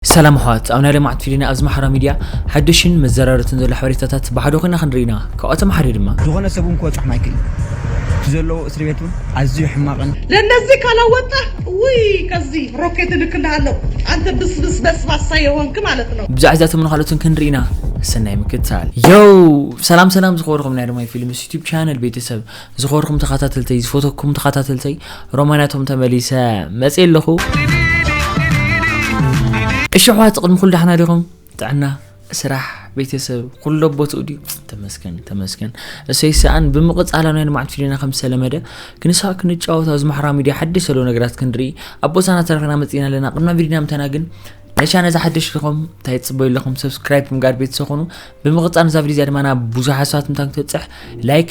ሰላም ኣሕዋት ኣብ ናይ ለማዕት ፊሊና ኣብዚ ማሕራዊ ሚድያ ሓዱሽን መዘራረትን ዘሎ ሓበሬታታት ብሓደ ኮይና ክንርኢ ኢና ካብኣቶም ሓደ ድማ። ዝኾነ ሰብ ውን ክበፅሖ ማይክል እዩ እቲ ዘለዎ እስሪ ቤት ውን ኣዝዩ ሕማቅን። ለነዚ ካላ ወጣህ እውይ ከዚ ሮኬት እልክልሃለሁ ኣንተ ብስብስ በስባሳ የሆንክ ማለት ነው። ብዛዕባ እዚኣቶምን ካልኦትን ክንርኢ ኢና ሰናይ ምክትታል። ዮው ሰላም ሰላም ዝኸበርኩም ናይ ርማይ ፊልምስ ዩቱብ ቻነል ቤተሰብ ዝኸበርኩም ተኸታተልተይ ዝፈተኩም ተኸታተልተይ ሮማንያ ቶም ተመሊሰ መጽ ኣለኹ እሺ ኣሕዋት ቅድሚ ኩሉ ዳሕና ዲኹም ጥዕና ስራሕ ቤተሰብ ኩሎ ቦትኡ ድዩ ተመስገን ተመስገን እሰይ ሰኣን ብምቕፃላ ናይ ልምዓት ፊልምና ከም ዝተለመደ ክንሳእ ክንጫወት ኣብዚ ማሕበራዊ ሚድያ ሓድሽ ዘሎ ነገራት ክንርኢ ኣብ ቦታና ተረክና መፅና ኣለና ቅድና ቪድና ምተና ግን ነሻ ነዛ ሓድሽ ዲኹም እንታይ ትፅበዩ ኣለኹም ሰብስክራይብ ምግባር ቤተሰብ ኮኑ ብምቕፃል ነዛ ቪድዮ እዚኣ ድማ ናብ ብዙሓት ሰባት ምታን ክትበፅሕ ላይክ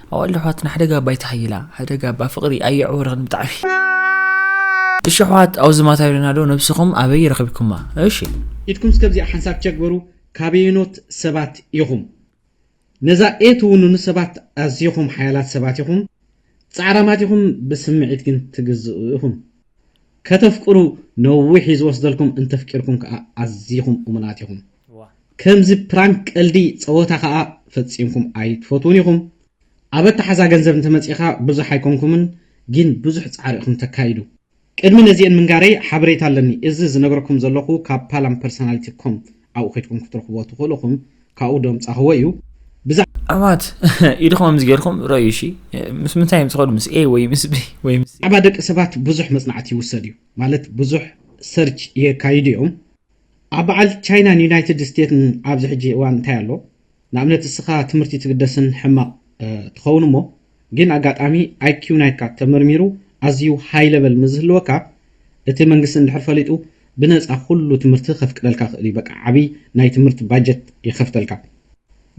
ኣዋልድ ኣሕዋትና ሓደጋ ኣባ ይተሓይላ ሓደጋ ኣባ ፍቅሪ ኣየዕወርኽን ብጣዕሚ እሺ ኣሕዋት ኣውዚ ማታ ኢሉና ዶ ነብስኹም ኣበይ ረኺብኩማ እሺ ኢድኩም እስከ ኣብዚኣ ሓንሳብ ቸክ በሉ ካበየኖት ሰባት ኢኹም ነዛ ኤ ትውንኑ ሰባት ኣዚኹም ሓያላት ሰባት ኢኹም ጻዕራማት ኢኹም ብስምዒት ግን ትግዝኡ ኢኹም ከተፍቅሩ ነዊሕ እዩ ዝወስደልኩም እንተፍቂርኩም ከኣ ኣዚኹም እሙናት ኢኹም። ከምዚ ፕራንክ ቀልዲ ጸወታ ከኣ ፈጺምኩም ኣይትፈትዉን ኢኹም ኣብ ኣተሓዛ ገንዘብ እንተመጺኻ ብዙሕ ኣይኮንኩምን ጊን ብዙሕ ጻዕሪ ኢኹም ተካይዱ። ቅድሚ ነዚኤን ምንጋረይ ሓበሬታ ኣለኒ እዚ ዝነግረኩም ዘለኹ ካብ ፓላም ፐርሰናሊቲ ኮም ኣብኡ ከድኩም ክትረኽብዎ ትኽእሉ እኹም ካብኡ ደምጻኽዎ እዩ ብዛዕ ኣባት ኢድኹም ኣምዚ ጌርኩም ረዩ እሺ ምስ ምንታይ እዮም ዝኸዱ ምስ ኤ ወይ ምስ ቢ ወይ ምስ ብዛዕባ ደቂ ሰባት ብዙሕ መጽናዕቲ ይውሰድ እዩ ማለት ብዙሕ ሰርች የካይዱ እዮም ኣብ በዓል ቻይናን ዩናይትድ ስቴትስን ኣብዚ ሕጂ እዋን እንታይ ኣሎ ንኣብነት እስኻ ትምህርቲ ትግደስን ሕማቅ ትኸውን እሞ ግን ኣጋጣሚ IQ ናይካ ተመርሚሩ ኣዝዩ high level ምስ ዝህልወካ እቲ መንግስቲ እንድሕር ፈሊጡ ብነጻ ኩሉ ትምህርቲ ከፍቅደልካ ይኽእል እዩ በቃ ዓቢ ናይ ትምህርቲ budget ይኸፍተልካ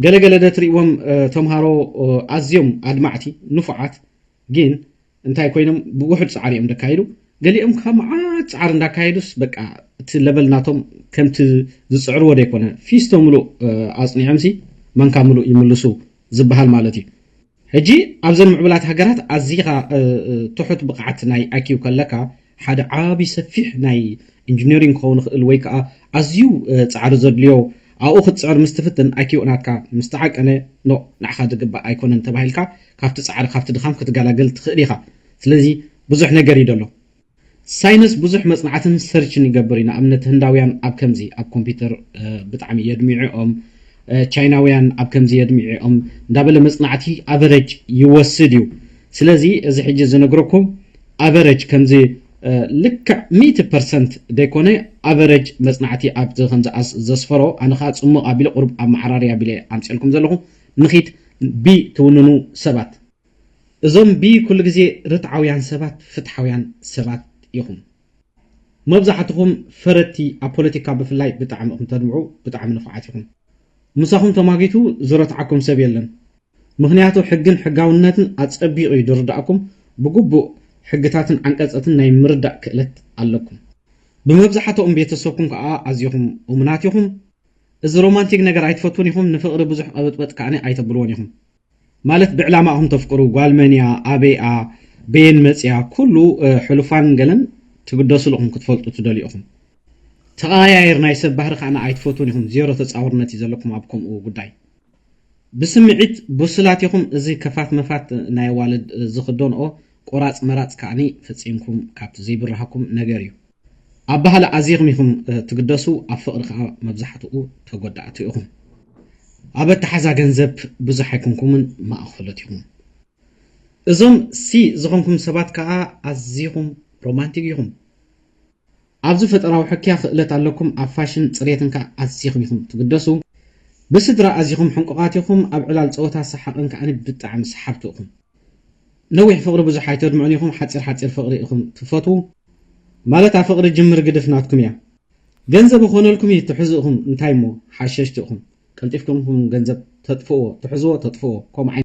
ገለ ገለ ዶ ትሪእዎም ተምሃሮ ኣዝዮም ኣድማዕቲ ንፉዓት ግን እንታይ ኮይኖም ብውሑድ ጻዕሪ እዮም ደካይዱ ገሊኦም ከኣ መዓት ጻዕሪ እንዳካየዱስ በቃ እቲ ለበል ናቶም ከምቲ ዝጽዕርዎ ደይኮነ ፊስቶ ምሉእ ኣጽኒዖምሲ ማንካ ምሉእ ይምልሱ ዝብሃል ማለት እዩ ሕጂ ኣብዘን ምዕቡላት ሃገራት ኣዚኻ ትሑት ብቕዓት ናይ IQ ከለካ ሓደ ዓቢ ሰፊሕ ናይ ኢንጂነሪንግ ክኸውን ይኽእል ወይ ከኣ ኣዝዩ ጻዕሪ ዘድልዮ ኣብኡ ክትጽዕር ምስ ትፍትን IQ ናትካ ምስ ተዓቀነ ኖእ ንዓኻ ዝግባእ ኣይኮነን ተባሂልካ ካብቲ ጻዕሪ ካብቲ ድኻም ክትገላገል ትኽእል ኢኻ ስለዚ ብዙሕ ነገር እዩ ዘሎ ሳይነስ ብዙሕ መጽናዕትን ሰርችን ይገብር እዩ ንኣብነት ህንዳውያን ኣብ ከምዚ ኣብ ኮምፒተር ብጣዕሚ የድሚዑኦም ቻይናውያን ኣብ ከምዚ የድሚዑኦም እንዳበለ መጽናዕቲ ኣቨረጅ ይወስድ እዩ ስለዚ እዚ ሕጂ ዝነግረኩም ኣቨረጅ ከምዚ ልክዕ ሚእቲ ፐርሰንት ደይኮነ ኣቨረጅ መጽናዕቲ ኣብቲ ከምዚ ኣስ ዘስፈሮ ኣነ ከኣ ጽሙቕ ኣቢለ ቁሩብ ኣመዓራርይ ኣቢለ ኣምጺኤልኩም ዘለኹ ንኺድ ብ ትውንኑ ሰባት እዞም ብ ኩሉ ግዜ ርትዓውያን ሰባት ፍትሓውያን ሰባት ኢኹም መብዛሕትኹም ፈረድቲ ኣብ ፖለቲካ ብፍላይ ብጣዕሚ እኹም ተድምዑ ብጣዕሚ ንፉዓት ኢኹም ምሳኹም ተማጊቱ ዝረትዓኩም ሰብ የለን ምኽንያቱ ሕግን ሕጋውነትን ኣጸቢቑ ዩ ድርዳእኩም፣ ብግቡእ ሕግታትን ዓንቀጸትን ናይ ምርዳእ ክእለት ኣለኩም። ብመብዛሓትኦም ቤተሰብኩም ከኣ ኣዚኹም እሙናት ኢኹም። እዚ ሮማንቲክ ነገር ኣይትፈትዉን ኢኹም፣ ንፍቕሪ ብዙሕ ቐብጥበጥ ከኣ ኣይተብልዎን ኢኹም። ማለት ብዕላማ ኢኹም ተፍቅሩ፣ ጓል መን እያ፣ ኣበይ'ያ፣ በየን መጺኣ፣ ኩሉ ሕሉፋን ገለን ትግደሱሉ ኢኹም፣ ክትፈልጡ ትደልዩ ኢኹም። ተቐያይር ናይ ሰብ ባህሪ ከኣ ኣይትፈትዉን ኢኹም፣ ዜሮ ተጻዋርነት ዩ ዘለኩም ኣብ ከምኡ ጉዳይ። ብስምዒት ቡሱላት ኢኹም እዚ ከፋት መፋት ናይ ኣዋልድ ዝኽዶንኦ ቆራጽ መራጽ ከኣኒ ፈጺምኩም ካብቲ ዘይብርሃኩም ነገር እዩ። ኣብ ባህሊ ኣዚኹም ኢኹም ትግደሱ ኣብ ፍቕሪ ከኣ መብዛሕትኡ ተጎዳእቲ ኢኹም። ኣብ ኣተሓዛ ገንዘብ ብዙሕ ኣይኮንኩምን ማእኸሎት ኢኹም። እዞም ሲ ዝኾንኩም ሰባት ከኣ ኣዚኹም ሮማንቲግ ኢኹም። ኣብዚ ፈጠራዊ ሕክያ ክእለት ኣለኩም ኣብ ፋሽን ጽሬትን ከኣ ኣዚኹም ኢኹም ትግደሱ ብስድራ ኣዚኹም ሕንቁቃት ኢኹም ኣብ ዕላል ጸወታ ሰሓቅን ከኣ ብጣዕሚ ሰሓብቲ እኹም ነዊሕ ፍቅሪ ብዙሕ ኣይተድምዑን ኢኹም ሓጺር ሓጺር ፍቅሪ ኢኹም ትፈትዉ ማለት ኣብ ፍቅሪ ጅምር ግድፍ ናትኩም እያ ገንዘብ እኾነልኩም እዩ ትሕዙ እኹም እንታይ እሞ ሓሸሽቲ እኹም ቀልጢፍኩም እኹም ገንዘብ ተጥፍእዎ ትሕዝዎ ተጥፍእዎ ከምኡ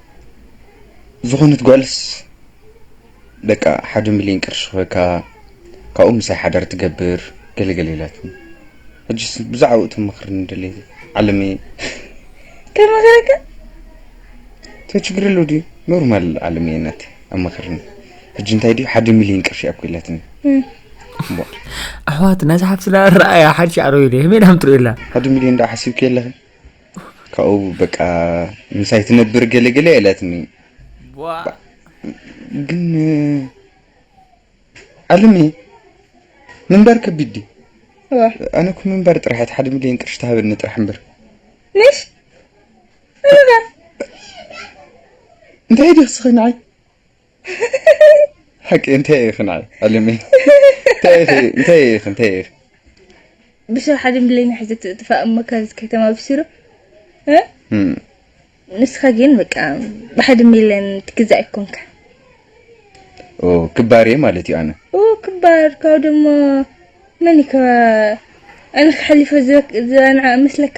ዝኾነት ጓልስ ደቃ ሓደ ሚልዮን ቅርሺ ክህበካ ካብኡ ምሳይ ሓዳር ትገብር ገለ ገለ ኢላትኒ ሕጅስ ብዛዕባኡ ትመኽርኒ ደልየ ዓለመይ ከመኽረካ ቶ ችግር ኣለዎ ድዩ ኖርማል ዓለመይ ናት ኣመኽርኒ ሕጂ እንታይ ድዩ ሓደ ሚልዮን ቅርሺ እያ እኮ ኢላትኒ ኣሕዋት ነዛ ሓፍትና ረኣያ ሓድሽ ዓረብ ኢለ መን ሃምትሩ ኢላ ሓደ ሚልዮን ዳ ሓሲብኪ ኣለኺ ካብኡ በቃ ምሳይ ትነብር ገለገለ ኢላትኒ ቧእ ግን ዓለመይ ምንባር ከቢድ ድዩ እዋ ኣነ እኮ ምንባር ጥራሕ እቲ ሓደ ሚልዮን ቅርሺ ትሃበኒ ጥራሕ እምበር ንሽ ምንባር እንታይ ድዩ ክስኸኝ ንዓይ ሓቂ እንታይ ኢኺ ንዓይ ዕልም እንታይ ኢኺ እንታይ ኢኺ እንታይ ኢኺ ብሰብ ሓደ ብለይና ሒዘ ትጥፋእ እሞ ካብዚ ከተማ ብስሩ ንስኻ ግን በቃ ብሓደ ሚለን ትግዛእ ይኮንካ ክባር እየ ማለት እዩ ኣነ ክባር ካብ ደሞ መን እየ ኣነ ክሓሊፈ ዘንዓ መስለካ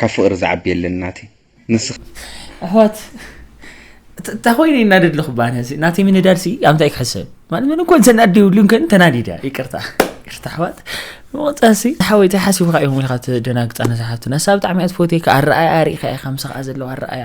ካብ ፍቅሪ ዝዓቢ የለን ናቲ ንስካ ኣሕዋት እታ ኮይነ ይናደድ ኣለኹ ባነሲ ናተይ ምንዳድ ሲ ኣብ እንታይ ክሕሰብ ማለት ምን እኮ ዘናድ ይብሉን ከን ተናዲዳ ይቅርታ ይቅርታ ኣሕዋት መወፃሲ ሓወይተይ ሓሲብካ ኢኹም ኢኻ ትደናግፃ ነሳሓቱ ነሳ ብጣዕሚ እያ ትፈትየካ ኣረኣያ ርኢኻ ኢኻ ምሳኻ ዘለዋ ኣረኣያ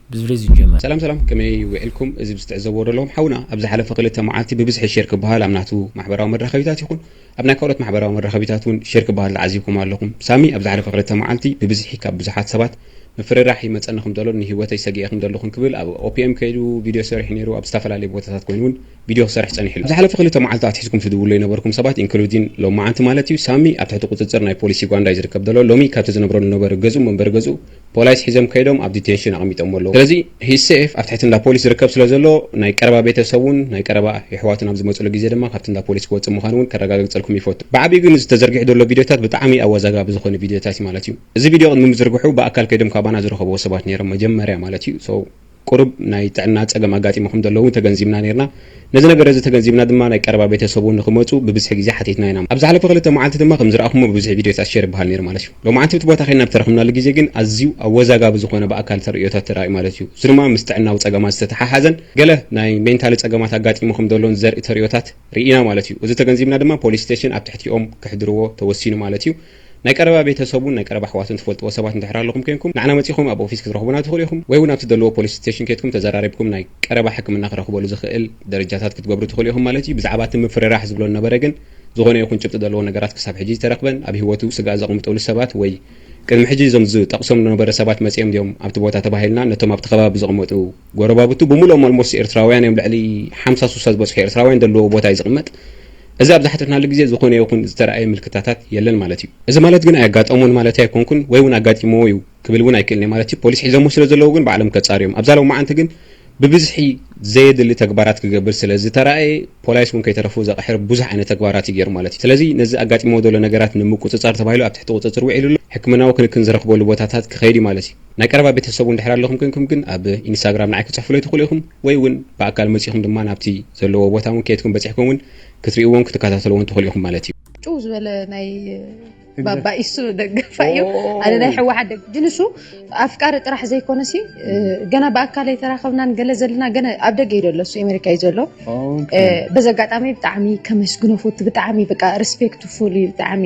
ብዝብል እዩ ዝጀመር። ሰላም ሰላም ከመይ ዊዕልኩም እዚ ምስ ትዕዘብዎ ዘለኹም ሓውና ኣብ ዝሓለፈ ክልተ መዓልቲ ብብዝሒ ሼር ክበሃል ኣብ ናቱ ማሕበራዊ መራኸቢታት ይኹን ኣብ ናይ ካልኦት ማሕበራዊ መራኸቢታት ውን ሼር ክበሃል ተዓዚብኩሞ ኣለኹም ሳሚ ኣብ ዝሓለፈ ክልተ መዓልቲ ብብዝሒ ካብ ብዙሓት ሰባት ምፍርራሕ ይመጸኒ ከም ዘሎን ንሂወተይ ሰጊኤ ከም ዘለኹን ክብል ኣብ OPM ከይዱ ቪድዮ ሰሪሑ ነይሩ ኣብ ዝተፈላለየ ቦታታት ኮይኑ ውን ቪድዮ ክሰርሕ ጸኒሑ ኣሎ ኣብ ዝሓለፈ ክልተ መዓልቲ ኣትሒዝኩም ትድውሉ ይነበርኩም ሰባት ኢንክሉዲን ሎሚ መዓንቲ ማለት እዩ ሳሚ ኣብ ትሕቲ ቁጽጽር ናይ ፖሊስ ዩጋንዳ እዩ ዝርከብ ዘሎ ሎሚ ካብቲ ዝነብረሉ ነበረ ገዝኡ መንበሪ ገዝኡ ፖላይስ ሒዞም ከይዶም ኣብ ዲቴንሽን ኣቐሚጦሞ ኣለዉ ስለዚ ሂዝ ሴፍ ኣብ ትሕቲ እንዳ ፖሊስ ዝርከብ ስለ ዘሎ ናይ ቀረባ ቤተ ሰቡን ናይ ቀረባ የሕዋቱን ኣብ ዝመጽሉ ግዜ ድማ ካብቲ እንዳ ፖሊስ ክወጽእ ምዃኑ ውን ከረጋግጸልኩም ይፈቱ ብዓቢኡ ግን እዚ ተዘርጊሑ ዘሎ ቪድዮታት ብጣዕሚ ኣወዛጋቢ ዝኾነ ቪድዮታት ዩ ማለት ዩ እዚ ቪድዮ ቅድሚ ምዝርግሑ ብኣካል ከይዶም ካባና ዝረኸብዎ ሰባት ኔሮም መጀመርያ ማለት ዩ so ቁሩብ ናይ ጥዕና ጸገም ኣጋጢሙ ከም ዘለዉ ተገንዚብና ኔርና። ነዚ ነገር እዚ ተገንዚብና ድማ ናይ ቀረባ ቤተሰቡ ንኽመጹ ብብዝሒ ግዜ ሓቲትና ኢና። ኣብ ዝሓለፈ ክልተ መዓልቲ ድማ ከም ዝረኣኹሞ ብብዝሒ ቪድዮታት ሼር ይበሃል ኔሩ ማለት እዩ። ሎማዓንቲ እቲ ቦታ ኬድና ብተረኽብናሉ ግዜ ግን ኣዝዩ ኣወዛጋቢ ዝኾነ ብኣካል ተርእዮታት ተራእዩ ማለት እዩ። እዚ ድማ ምስ ጥዕናዊ ጸገማት ዝተተሓሓዘን ገለ ናይ ሜንታሊ ጸገማት ኣጋጢሙ ከም ዘሎን ዘርኢ ተርእዮታት ርኢና ማለት እዩ። እዚ ተገንዚብና ድማ ፖሊስ ስቴሽን ኣብ ትሕቲኦም ከሕድርዎ ተወሲኑ ማለት እዩ። ናይ ቀረባ ቤተ ሰቡን ናይ ቀረባ ኣሕዋቱን ትፈልጥዎ ሰባት እንድሕር ኣለኹም ኴንኩም ንዓና መጺኹም ኣብ ኦፊስ ክትረኽቡና ትኽእሉ ኢኹም ወይ ውን ኣብ ትደልዎ ፖሊስ ስተሽን ኬድኩም ተዘራሪብኩም ናይ ቀረባ ሕክምና ክረኽበሉ ዝኽእል ደረጃታት ክትገብሩ ትኽእሉ ኢኹም ማለት እዩ ብዛዕባ እቲ ምፍርራሕ ዝብሎ ዝነበረ ግን ዝኾነ ይኹን ጭብጢ ዘለዎ ነገራት ክሳብ ሕጂ ዝተረኽበን ኣብ ሂወቱ ስግኣት ዘቕምጥሉ ሰባት ወይ ቅድሚ ሕጂ እዞም ዝጠቕሶም ዝነበረ ሰባት መጺኦም ድዮም ኣብቲ ቦታ ተባሂልና ነቶም ኣብቲ ከባቢ ዝቕመጡ ጎረባብቱ ብሙሉኦም ኣልሞስት ኤርትራውያን እዮም ልዕሊ ሓምሳ ሱሳ ዝበጽሑ ኤርትራውያን ደልዎ ቦታ እዩ ዝቕመጥ እዚ ኣብ ዝሓተትናሉ ግዜ ዝኾነ ይኹን ዝተራእየ ምልክታታት የለን ማለት እዩ። እዚ ማለት ግን ኣየጋጠሞን ማለተይ ኣይኮንኩን ወይ ውን ኣጋጢምዎ እዩ ክብል ውን ኣይክእልን'የ ማለት እዩ። ፖሊስ ሒዘሞ ስለ ዘለዉ ግን ባዕሎም ከጻርዩ እዮም። ኣብዛ ሎማዓንቲ ግን ብብዝሒ ዘየድሊ ተግባራት ክገብር ስለ ዝተራእየ ፖላይስ ውን ከይተረፉ ዘቕሕር ብዙሕ ዓይነት ተግባራት እዩ ጌሩ ማለት እዩ። ስለዚ ነዚ ኣጋጢምዎ ዘሎ ነገራት ንምቁጽጻር ተባሂሉ ኣብ ትሕቲ ቁጽጽር ዊዒሉ'ሎ ሕክምናዊ ክንክን ዝረኽበሉ ቦታታት ክኸይድ እዩ ማለት እዩ። ናይ ቀረባ ቤተሰቡ እንድሕር ኣለኹም ኮንኩም ግን ኣብ ኢንስታግራም ንዓይ ክትጽሕፉለይ ትኽእሉ ኢኹም ወይ ውን ብኣካል መጺኹም ድማ ናብቲ ዘለዎ ቦታ ውን ከድኩም በጺሕኩም ውን ክትሪእዎን ክትከታተልዎን ትኽእሉ ኢኹም ማለት እዩ። ጭው ዝበለ ናይ ባባ ኢሱ ደጋፋይ እዩ ኣነ ናይ ሕወሓት ደግ ግን እሱ ኣፍቃሪ ጥራሕ ዘይኮነ ሲ ገና ብኣካል ኣይተራኸብናን ገለ ዘለና ገና ኣብ ደገ እዩ ዘሎ እሱ ኣሜሪካ እዩ ዘሎ በዚ ኣጋጣሚ ብጣዕሚ ከመስግኖ ፎቱ ብጣዕሚ በቃ ሪስፔክትፉል እዩ ብጣዕሚ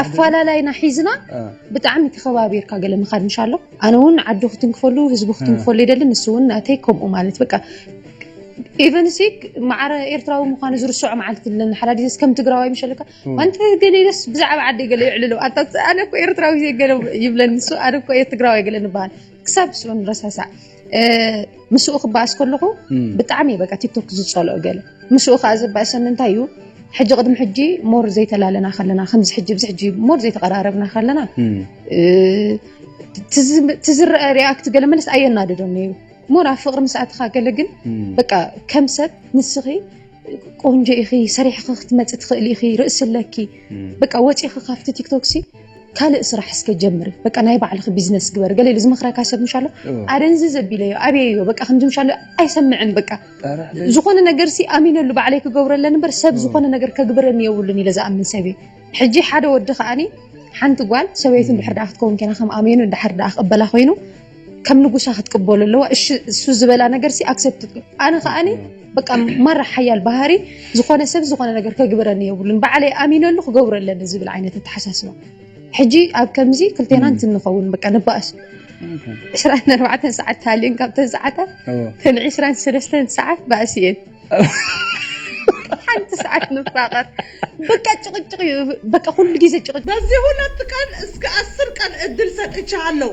ኣፈላላይና ሒዝና ብጣዕሚ ተኸባቢርካ ገለ ምኻድ ምሻሎ ኣነ እውን ዓዱ ክትንክፈሉ ህዝቢ ክትንክፈሉ ይደሊ ንሱ እውን ናተይ ከምኡ ማለት በቃ ኢቨን ሲ ማዕረ ኤርትራዊ ምዃኑ ዝርስዖ መዓልቲ ኣለና ሓዳዲ ከም ትግራዋይ ምሸለካ ኣንተ ገለ ኢለስ ብዛዕባ ዓደይ ገለ ይዕልሎ ኣነ እኮ ኤርትራዊ ገለ ይብለኒ ንሱ ኣነ እኮ ትግራዋይ ገለ ንበሃል ክሳብ ስኡ ንረሳሳዕ ምስኡ ክበኣስ ከለኹ ብጣዕሚ በቃ ቲክቶክ ዝፀልኦ ገለ ምስኡ ከዓ ዝበኣሰኒ እንታይ እዩ ሕጂ ቅድሚ ሕጂ ሞር ዘይተላለና ከለና ከምዚ ሕጂ ብዚ ሕጂ ሞር ዘይተቀራረብና ከለና ትዝረአ ሪኣክት ገለ መለስ ኣየናድዶን ነይሩ ሞር ኣብ ፍቅሪ ምስኣትካ ገለ ግን በቃ ከም ሰብ ንስኺ ቆንጆ ኢኺ ሰሪሕኺ ክትመፂ ትኽእሊ ኢኺ ርእሲ ኣለኪ በቃ ወፂኺ ካብቲ ቲክቶክ ሲ ካልእ ስራሕ እስከ ጀምሪ በቃ ናይ ባዕልኺ ቢዝነስ ግበሪ ገለ ኢሉ ዝመኽረካ ሰብ ምሻ ኣሎ ኣደንዚ ዘቢለዮ ኣብየዮ በቃ ከምዚ ምሻ ኣሎ ኣይሰምዕን በቃ ዝኾነ ነገር ሲ ኣሚነሉ ባዕለይ ክገብረለን እምበር ሰብ ዝኾነ ነገር ከግብረኒ የብሉን ኢለ ዝኣምን ሰብ እዩ ሕጂ ሓደ ወዲ ከዓኒ ሓንቲ ጓል ሰበይቱ እንድሕር ደኣ ክትከውን ኬና ከም ኣሜኑ እንድሕር ደኣ ክቕበላ ኮይኑ ከም ንጉሳ ክትቅበሉ ኣለዋ እሺ እሱ ዝበላ ነገር ሲ ኣክሰፕት ኣነ ከዓኒ በቃ ማራ ሓያል ባህሪ ዝኾነ ሰብ ዝኾነ ነገር ከግብረኒ የብሉን በዓለይ ኣሚነሉ ክገብሮ ኣለኒ ዝብል ዓይነት ኣተሓሳስባ ሕጂ ኣብ ከምዚ ክልቴና እንትንኸውን በቃ ንባእስ ዕስራን ኣርባዕተን ሰዓት ተሃልየን ካብተን ሰዓታት ተን ዕስራን ሰለስተን ሰዓት ባእሲ እየን ሓንቲ ሰዓት ንፋቐር በቃ ጭቕጭቕ እዩ በቃ ኩሉ ግዜ ጭቕጭቕ በዚህ ሁለት ቀን እስከ አስር ቀን እድል ሰጥቻለሁ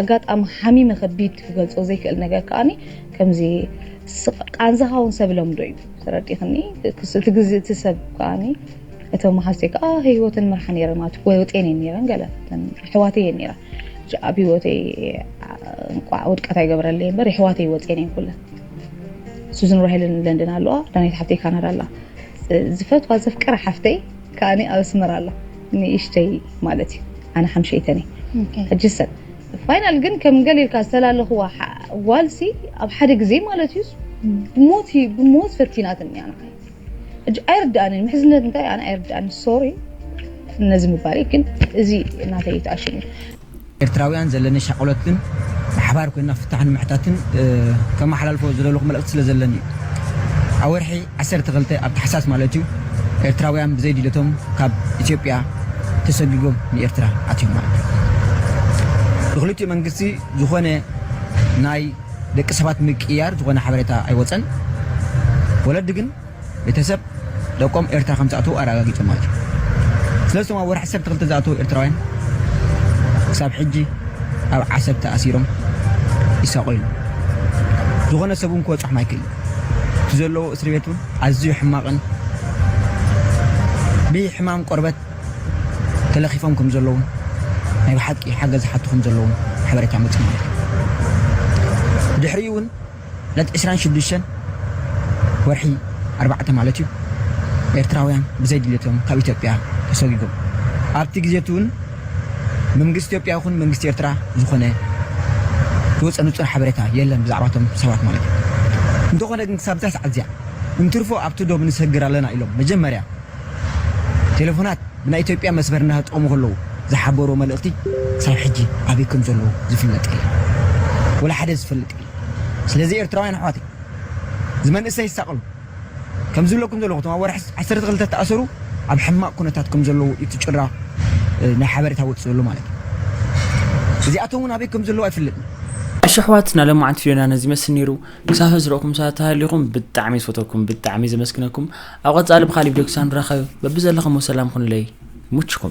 ኣጋጣሚ ሓሚመ ከቢድ ክገልጾ ዘይክእል ነገር ከኣኒ ከምዚ ስቅ ቃንዛኻ ውን ሰብ ለምዶ እዩ ተረዲክኒ እቲ ግዜ እቲ ሰብ ከኣኒ እተን መሓዝተይ ከኣ ህይወተን ይመርሓ ነይረን ማለት ወጤን እየን ነይረን ገለ ኣሕዋተይ እየን ነይረን ኣብ ህይወተይ እንቋዕ ውድቀት ኣይገበረለይ እምበር የሕዋተይ ወጤን እየን ኩለን ሱዝን ራሄልን ለንደን ኣለዋ ዳናይት ሓፍተይ ካናዳ ኣላ ዝፈትዋ ዘፍቅራ ሓፍተይ ከኣኒ ኣብ ኣስመራ ኣሎ ንእሽተይ ማለት እዩ ኣነ ሓምሸይተን እየ ሕጂ ሰብ ፋይናል ግን ከም ገለ ኢልካ ዝተላለኽዋ ጓልሲ ኣብ ሓደ ግዜ ማለት እዩስ ብሞት ብሞት ፈቲናትኒ ኣነ ሕጂ ኣይርድኣንን ምሕዝነት እንታይ ኣነ ኣይርድኣንን ሶሪ ነዚ ምባለይ ግን እዚ ናተይ ተኣሽሙ እዩ ኤርትራውያን ዘለኒ ሻቕሎት ግን ብሓባር ኮይንና ፍታሕ ንምሕታትን ከመሓላልፎ ዝደለኹ መልእኽቲ ስለ ዘለኒ እዩ። ኣብ ወርሒ ዓሰርተ ክልተ ኣብ ታሕሳስ ማለት እዩ ኤርትራውያን ብዘይ ድልየቶም ካብ ኢትዮጵያ ተሰጊጎም ንኤርትራ ኣትዮም ማለት እዩ። ብክልቲኡ መንግስቲ ዝኾነ ናይ ደቂ ሰባት ምቅይያር ዝኾነ ሓበሬታ ኣይወጸን። ወለዲ ግን። ቤተሰብ ደቆም ኤርትራ ከምዝኣተዉ ኣረጋጊጾም ማለት እዩ። ስለዚ እቶም ኣብ ወርሒ ዓሰርተ ክልተ ዝኣተዉ ኤርትራውያን ክሳብ ሕጂ ኣብ ዓሰብ ተኣሲሮም ይሳቐዩ ኣለዉ። ዝኾነ ሰብ እውን ክበጽሖም ኣይክእልን። እቲ ዘለዉዎ እስሪ ቤት እውን ኣዝዩ ሕማቕን ብሕማም ቆርበት ተለኺፎም ከምዘለዉን ናይ ብሓቂ ሓገዝ ይሓቱ ከምዘለዉን ሓበሬታ መጺኡና ኣሎ። ብድሕሪኡ እውን ዕለት ዕስራን ሽዱሽተን ወርሒ ኣርባዕተ ማለት እዩ፣ ኤርትራውያን ብዘይ ድሌቶም ካብ ኢትዮጵያ ተሰጒጎም። ኣብቲ ግዜ'ቲ ውን መንግስቲ ኢትዮጵያ ይኹን መንግስቲ ኤርትራ ዝኾነ ዝወጸ ንጹር ሓበሬታ የለን ብዛዕባ እቶም ሰባት ማለት እዩ። እንተኾነ ግን ክሳብ እዛ ሰዓት እዚኣ እንትርፎ ኣብቲ ዶብ ንሰግር ኣለና ኢሎም መጀመርያ ቴለፎናት ብናይ ኢትዮጵያ መስመር እናተጠቐሙ ከለዉ ዝሓበርዎ መልእኽቲ ክሳብ ሕጂ ኣበይ ከምዘለዉ ዝፍለጥ የለን። ወላ ሓደ ዝፈልጥ የለን። ስለዚ ኤርትራውያን ኣሕዋተይ እዚ መንእሰይ ዝሳቀሉ ከምዚ ዝብለኩም ዘለኹ እቶም ኣብ ወርሒ ዓሰርተ ክልተ ዝተኣሰሩ ኣብ ሕማቅ ኩነታት ከም ዘለዉ እዩ እቲ ጭራ ናይ ሓበሬታ ወጽ ዘሎ ማለት እዩ እዚኣቶም እውን ኣበይ ከም ዘለዉ ኣይፍለጥን እሺ ኣሕዋት ናይ ሎማዓንቲ ቪድዮና ነዚ ይመስል ነይሩ ክሳብ ሕዚ ዝረእኩም ሰባት ተሃሊኹም ብጣዕሚ ዝፈተኩም ብጣዕሚ ዘመስግነኩም ኣብ ቀጻሊ ብካሊእ ቪድዮ ክሳብ ንራኸብ በብዘለኹሞ ሰላም ኩኑለይ ይሙችኩም